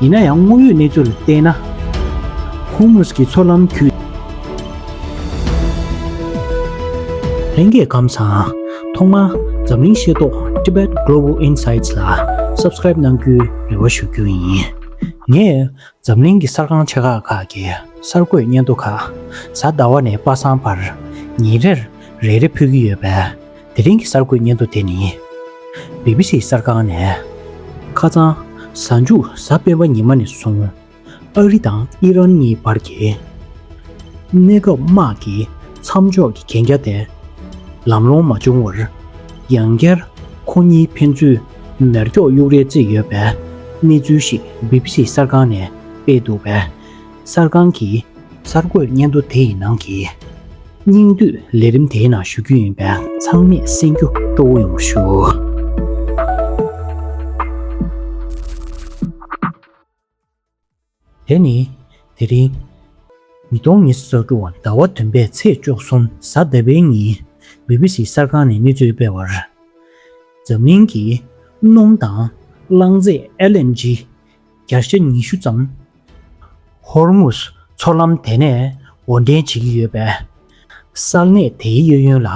ཡིན་ན་ཡང་དངོས་ཡོད་གནས་ཚུལ་ལ་བལྟས་ན། ཧུར་མུས་ཀྱི་ཚོར་ལམ་བརྒྱུད། ལྷན་སྐྱེས་ཁམས་བཟང། ཐོག་མར་འཛམ་གླིང་ཤེས་རྟོགས Tibet Global Insights ལ Subscribe གནང་རྒྱུའི་རེ་བ་ཞུ་རྒྱུ་ཡིན། ངས་འཛམ་གླིང་གི་གསར་ཁང་ཆེ་ཁག་ཁག་གི་གསར་འགོད་སྙན་ཐོ་ཁག་གཟའ་ཟླ་བ་ནས་དཔག་བསམ་བར་ཉིན་རེར་རེ་རེ་ཕུལ་གྱི་ཡོད་པས་དེ་རིང་གི་གསར་འགོད་སྙན་ཐོ་དེ་ནི། བྷི་བྷི་སི་གསར་ཁང་ནས། ཁ་རྩང། གཟའ་མཇུག་གཟའ་སྤེན་པ་ཉི་མ་ནས་བཟུང། ཨ་རི་དང་ཨི་རན་གཉིས་བར་གྱི། གནས་སྐབས་དམག་གི་མཚམས་འཇོག་གི་གན་རྒྱ་དེ། ལམ་ལྷོང་མ་བྱུང་བར། ཡང་བསྐྱར་ཁོ་གཉིས་ཕན་ཚུན་མེར་སྒྱོགས་གཡུག་རེ་བརྩིས་ཡོད་པའི་གནས་ཚུལ་ཞིག་བྷི་བྷི་སི་གསར་ཁང་ནས་སྤེལ་འདུག་པས། གསར་ཁང་གིས་གསར་འགོད་སྙན་ཐོ་དེ་ཡི་ནང་གི། སྙིང་བསྡུས་ལས་རིམ་དེའི་ནང་ཞུ་རྒྱུ་ཡིན་པས་ཚང་མས་གསན་རྒྱུ་གཙོ་བོ་ཡོང་བར་ཞུ། དེ་ནི། དེ་རིང། ཉིས་སྟོང་ཉེར་གསུམ་ཟླ་བ་བདུན་པའི་ཚེས་བཅོ་གསུམ་གཟའ་ཟླ་བའི་ཉིན། བྷི་བྷི་སི་གསར་ཁང་ནས་གནས་ཚུལ་སྤེལ་བར། འཛམ་གླིང་གི་སྣུམ་དང་རླངས་རྫས LNG། བརྒྱ་ཆ་ཉི་ཤུ་ཙམ་ཧོར་མུ་ཟ་མཚོ་ལམ་དེ་ནས་འོར་འདྲེན་བྱེད་ཀྱི་ཡོད་པས། གསར་གནས་དེའི་གཡོ་ཡོན་ལ་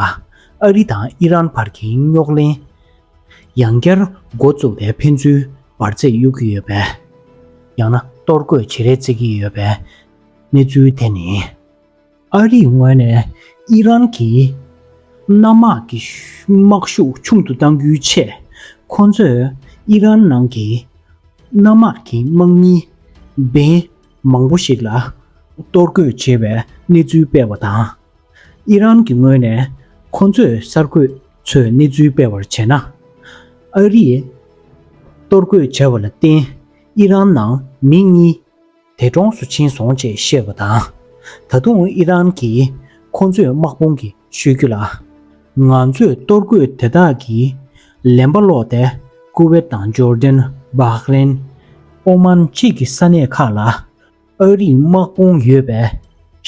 ཨ་རི་དང་ཨི་རན་བར་གྱི་རྙོག་གླེང། ཡང་བསྐྱར་འགོ་བཙུགས་པའི་ཕན་ཚུན་འབར་རྫས་གཡུག་གི་ཡོད་པས། ཡང་ན་གཏོར་རྒོད་བྱེད་རེས་བརྩེགས་ཀྱི་ཡོད་པའི་གནས་ཚུལ་དེ་ནི། ཨ་རིའི་ངོས་ནས་ཨི་རན་གྱིས་གནམ་དམག་གི་དམག་ཤུགས་ཆུང་དུ་གཏང་རྒྱུའི་ཆེད། ཁོ་ཚོས་ཨི་རན་ནང་གི་གནམ་དམག་གི་དམག་མི་བན་མང་པོ་ཞིག་ལ་གཏོར་རྒོལ་བྱས་པའི་གནས་ཚུལ་སྤེལ་བ་དང། ཨི་རན་གྱི་ངོས་ནས་ཁོ་ཚོས་གསར་འགོད་ཚོས་གནས་ཚུལ་སྤེལ་བར་བྱས་ན། ཨ་རིས་གཏོར་རྒོལ་བྱས་པ་ལ་བརྟེན་ཨི་རན་ནང་མི་གཉིས། དེ་གྲོངས་སུ་ཕྱིན་སོང་ཅེས་བཤད་པ་དང། ད་དུང་ཨི་རན་གྱིས་ཁོང་ཚོས་དམག་དཔུང་གི་ཤོད་རྒྱུ་ལ། ང་ཚོས་གཏོར་རྒོད་དེ་དག་གིས་ལན་པ་བསློགས་ཏེ་ཀུ་ཝེ་ཏ་དང་འཇོར་ལྡན། བྷག་རེན། ཨོ་མཱན་བཅས་ཀྱི་ས་གནས་ཁག་ལ་ཨ་རིའི་དམག་དཔུང་ཡོད་པས།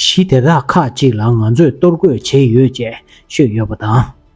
གཞི་དེ་དག་ཁག་ཅིག་ལ་ང་ཚོས་གཏོར་རྒོད་བྱས་ཡོད་ཅེས་ཤོད་ཡོད་པ་དང།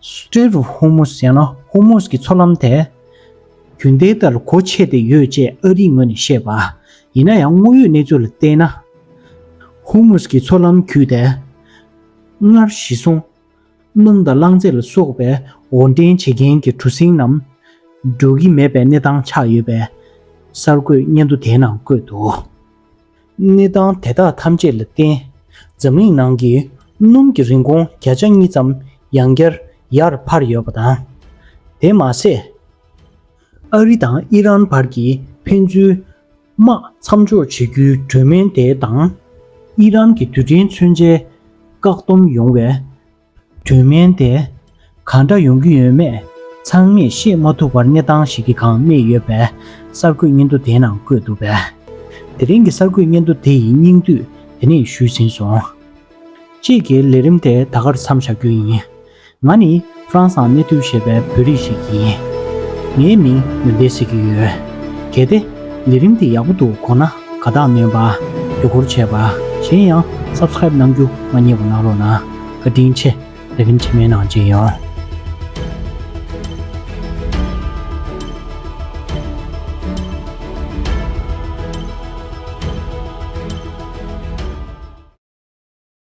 Strait of Hormuz ཡང་ན་ཧོར་མུས་ཀྱི་མཚོ་ལམ་དེ། རྒྱུན་ལྡན་ལྟར་གོ་ཆད་དེ་ཡོད་ཅེས་ཨ་རིའི་ངོས་ནས་བཤད་པ། ཡིན་ན་ཡང་དངོས་ཡོད་གནས་ཚུལ་ལ་བལྟས་ན། ཧོར་མུས་ཀྱི་མཚོ་ལམ་བརྒྱུད་དེ། སྔར་བཞི་སོང། སྣུམ་དང་རླངས་རྫས་ལ་སོགས་པའི་འོར་འདྲེན་བྱེད་མཁན་གྱི་གྲུ་གཟིངས་རྣམས། འགྲོ་གི་མེད་པའི་གནས་སྟངས་ཆགས་ཡོད་པའི་གསར་འགོད་སྙན་ཐོ་དེའི་ནང་བཀོད་འདུག། གནས་སྟངས་དེ་དག་ཐམས་ཅད་ལ་བརྟེན། འཛམ་གླིང་ནང་གི་སྣུམ་གྱི་རིན་གོང་བརྒྱ་ཆ་གཉིས་ཙམ་ཡང་བསྐྱར་ཡར་འཕར་ཡོད་པ་དང། དེ་མ་ཟད། ཨ་རི་དང་ཨི་རན་བར་གྱི་ཕན་ཚུན་དམག་མཚམས་འཇོག་བྱེད་རྒྱུའི་གྲོས་མོལ་དེ་དང། ཨི་རན་གྱི་དུས་དྲན་མཚོན་ཆའི་བཀག་སྡོམ་ཡོང་བའི་དོན་དམན་ཏེ། ག་འདྲ་ཡོང་གི་ཡོད་མེད་ཚང་མས་ཤེས་མ་ཐུབ་པར་གནས་སྟངས་ཤིག་གི་གང་གནས་ཡོད་པའི་གསར་འགོད་སྙན་ཐོ་དེའི་ནང་བཀོད་འདུག་པས། དེ་རིང་གི་གསར་འགོད་སྙན་ཐོ་དེ་ཡི་སྙིང་བསྡུས་དེ་ནས་ཞུས་ཟིན་སོང། དཔྱིད་ཀྱི་ལས་རིམ་དེ་ད་གར་མཚམས་བཞག་རྒྱུ་ཡིན། ང་ནི France ཨང་གནས་ཐུབ་ཞེས་པའི་བོད་རིགས་ཤིག་ཡིན། ངའི་མིང་ཡོན་ཏན་ཟེར་གྱི་ཡོད། གལ་ཏེ་ལས་རིམ་དེ་ཡག་པོ་འདུག་གོ་ན། ག་དག་སྨན་པ་དུས་འཁོར་ཆད་པ་གཞན་ཡང Subscribe གནང་རྒྱུ་མ་རྙེད་པ་གནང་རོགས་གནང་བཀའ་དྲིན་ཆེ་དེ་རིང་ཕྱི་མའི་ནང་བརྗེད་ཡོང།